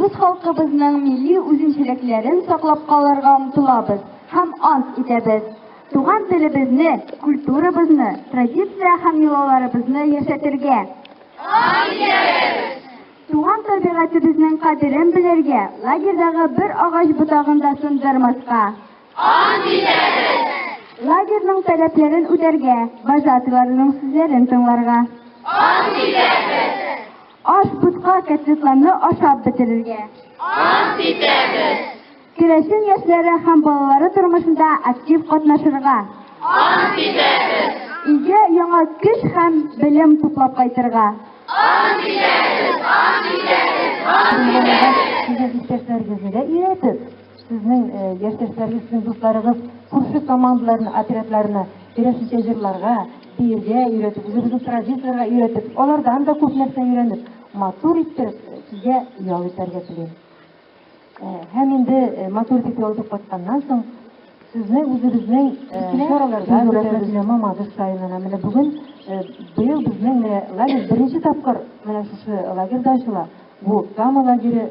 Үз халкыбызның милли үзенчәлекләрен саклап калырга омтылабыз һәм ант итәбез. Туган телебезне, культурабызны, традиция һәм йолаларыбызны яшәтергә. Ант итәбез! Туган табигатебезнең кадерен белергә, лагерьдагы бер агач ботагын да сындырмаска. Ант итәбез! Лагерьның таләпләрен үтәргә, вожатыйларының сүзләрен тыңларга. Ант итәбез! Аш бутка котлетларны ашап бетерергә. Ант итәбез. Керәшен яшьләре һәм балалары тормышында актив катнашырга. Ант итәбез. Илгә яңа көч һәм белем туплап кайтырга. Ант итәбез, ант итәбез, ант итәбез. Сезнең иптәшләрегезгә өйрәтеп, Сезнең яшьтәшләрегез, сезнең дусларыгыз күрше командаларны, отрядларны керәшенчә җырларга, биергә өйрәтеп, үзебезнең традицияләргә өйрәтеп, алардан да күп нәрсә өйрәнеп, матур иттереп сезгә ял итәргә телим. Һәм инде матур итеп ял итеп кайтканнан соң, сезне үзебезнең чараларда күрәбез. Мамадыш районына менә бүген быел безнең менә лагерь беренче тапкыр менә шушы лагерьда ачыла. Бу Кама лагере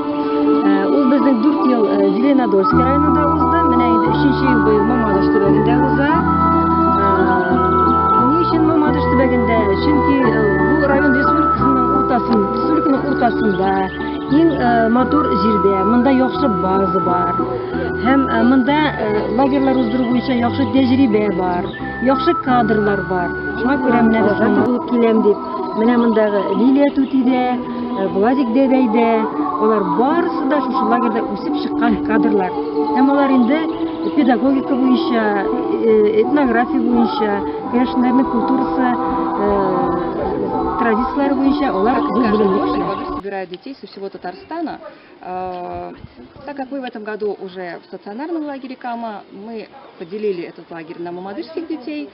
Ул безнең 4 ел Зеленодольск районында узды. Менә инде 3 ел быел Мамадыш төбәгендә уза. Ни өчен Мамадыш төбәгендә? Чөнки бу район республикасының уртасында, республиканың уртасында, иң матур җирдә, монда яхшы база бар. Һәм монда лагерьлар уздыру буенча яхшы тәҗрибә бар, яхшы кадрлар бар. Шуңа күрә менә без монда киләм дип Менә мондагы Лилия түти дә, э, Владик дәдәй дә, алар барысы да шушы лагерьда үсеп чыккан кадрлар. Һәм алар инде педагогика буенча, э, этнография буенча, керәшеннәрнең культурасы, э, традицияләре буенча алар собирают детей со всего Татарстана. Так как мы в этом году уже в стационарном лагере Кама, мы поделили этот лагерь на мамадышских детей,